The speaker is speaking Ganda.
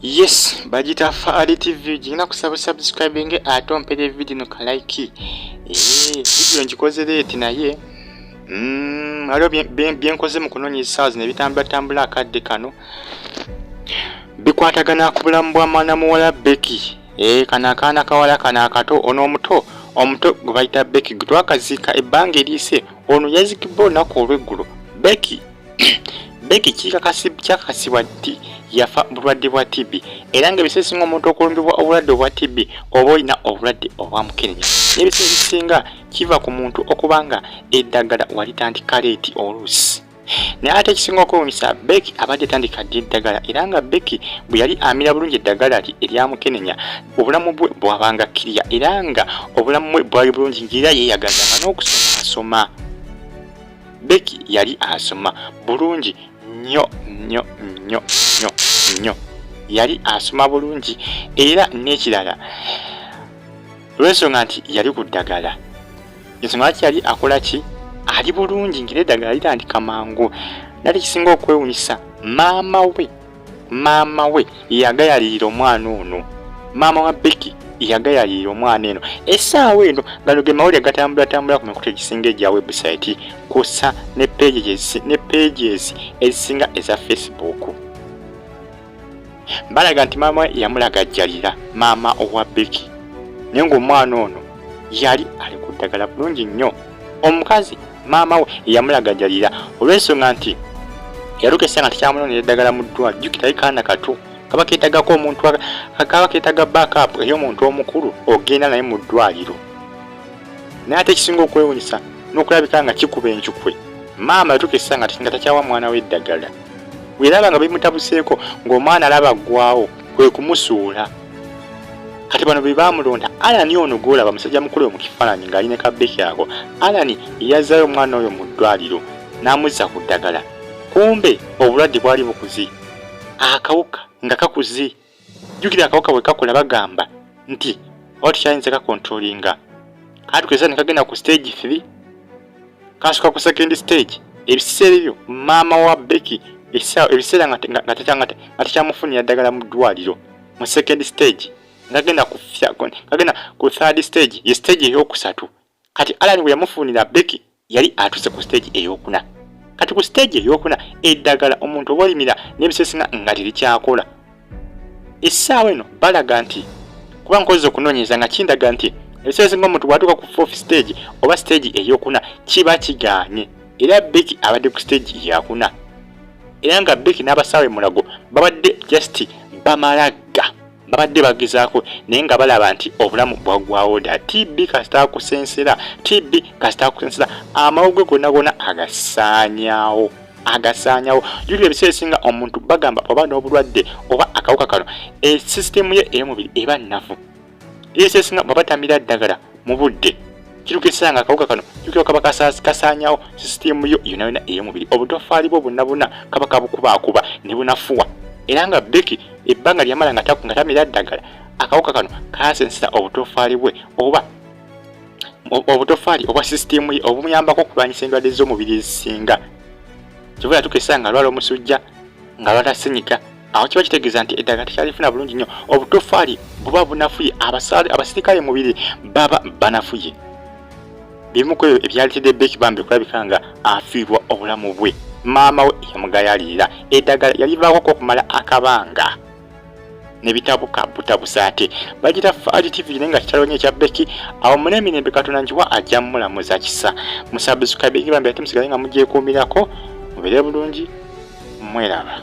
yes bagita faali tv gigina kusaba subscribing ate ompere video no kalaiki eh, video ngikoze leeti naye mm, waliwo byenkoze mu kunoonya esaazi ne bitambulatambula akadde kano bikwatagana ku bulamu bwa mwana muwala beki eh, kano akaana kawala kano akato ono omuto omuto gwe bayita beki gwe twakaziika ebbanga eriise ono yazikibwa olunaku olweggulo beki Becky kyakakasibwa nti yafa bulwadde bwa TB era nga ebiseera ebisinga omuntu okulumbibwa obulwadde obwa TB oba olina obulwadde obwa mukenenya n'ebiseera ebisinga kiva ku muntu okuba nga eddagala walitandika leeti oluusi naye ate ekisinga okwewunyisa Becky abadde tandika ddi eddagala era nga Becky bwe yali amira bulungi eddagala lye erya mukenenya obulamu bwe bwabanga kiriya era nga obulamu bwe bwali bulungi ng'era yeeyagaza nga n'okusoma asoma Becky yali asoma bulungi nnyo nnyo nnyo nnyo nnyo yali asoma bulungi era n'ekirala olw'ensonga nti yali ku ddagala ensonga lwaki yali akola ki ali bulungi ngeri eddagala litandika mangu nali kisinga okwewunyisa maama we maama we yagayalirira omwana ono maama wa beki yagayalirira omwana eno essaawa eno gano ge mawulire gatambulatambula ku mikutu egisinga egya webusaiti kusa ne pages ezisinga eza facebook balaga nti maama yamulaga jjalira maama owa beki naye ng'omwana ono yali ali ku ddagala bulungi nnyo omukazi maama we yamulagajalira olw'ensonga nti yalukesa nga tekyamulonera eddagala mu ddwa jjukirayo kaana kato kaba keetagako omuntu kaba keetaga backup ey'omuntu omukulu ogenda naye mu ddwaliro naye ate ekisinga okwewunyisa n'okulabika nga kikuba encukwe maama yatukesa nga nga takyawa mwana we eddagala weraba nga bimutabuseeko ng'omwana alaba aggwawo kwe kumusuula kati bano be baamulonda alani ono gwolaba musajja mukulu oyo mu kifaananyi ng'ali ne kabbeki ako alani yazzayo omwana oyo mu ddwaliro n'amuzza ku ddagala kumbe obulwadde bwali bukuzi akawuka nga kakuzi jjukira akawuka bwe kakola bagamba nti oba tukyayinza kakontrolinga katukweza ne kagenda ku stage 3 kansuka ku second stage ebiseera ebyo maama wa beki ebiseera nga tekyamufunira ddagala mu ddwaliro mu second stage ngagenda kufyagenda ku third stage ye stage eyokusatu kati alani bwe yamufunira beki yali atuse ku stage eyokuna kati ku stage eyokuna eddagala omuntu obalimira nebisesinga nga terikyakola essaawa eno balaga nti kuba nkozi okunoonyereza nga kindaga nti ebiseera esinga omuntu bwatuuka ku fourth stage oba stage eyokuna kiba kigaanye era beki abadde ku stage yakuna era nga beki n'abasaawe mulago babadde just bamalagga babadde bagezaako naye nga balaba nti obulamu bwaggwawo dda tb kasitaakusensera tb kasitaakusensera amawugwe gonna gonna agasaanyaawo agasaanyawo juli ebiseera esinga omuntu bagamba oba n'obulwadde oba akawuka kano e sisitemu ye ey'omubiri eba nnafu ebiseera esinga bwaba tamira ddagala mu budde kituuka ekiseera nga akawuka kano jukira kaba kasaanyawo sisitemu yo yonna yonna ey'omubiri obutoffaali bwo bonna bonna kaba kabukubaakuba ne bunafuwa era nga beki ebbanga lyamala nga tamira ddagala akawuka kano kaasensera obutoffaali bwe oba obutofaali obwa sisitiimu ye obumuyambako okulwanyisa endwadde z'omubiri ezisinga kivula tukesa nga alwala omusujja nga alwala sinyika awo kiba kitegeeza nti eddagala tekyalifuna bulungi nnyo obutofaali buba bunafuye abasaale abasirikale mubiri baba banafuye bimu ku ebyo ebyalitedde beeki bambi okulabika nga afiirwa obulamu bwe maama we yamugayalirira eddagala yalivaako okumala akabanga nebitabuka butabusa ate bagira faali tv naye nga kitalo nyo ekya beki awo mune emirembe katonda njiwa ajja mulamuza kisa musabusukabingi bambi ate musigale nga mugyekuumirako mubere bulungi mweraba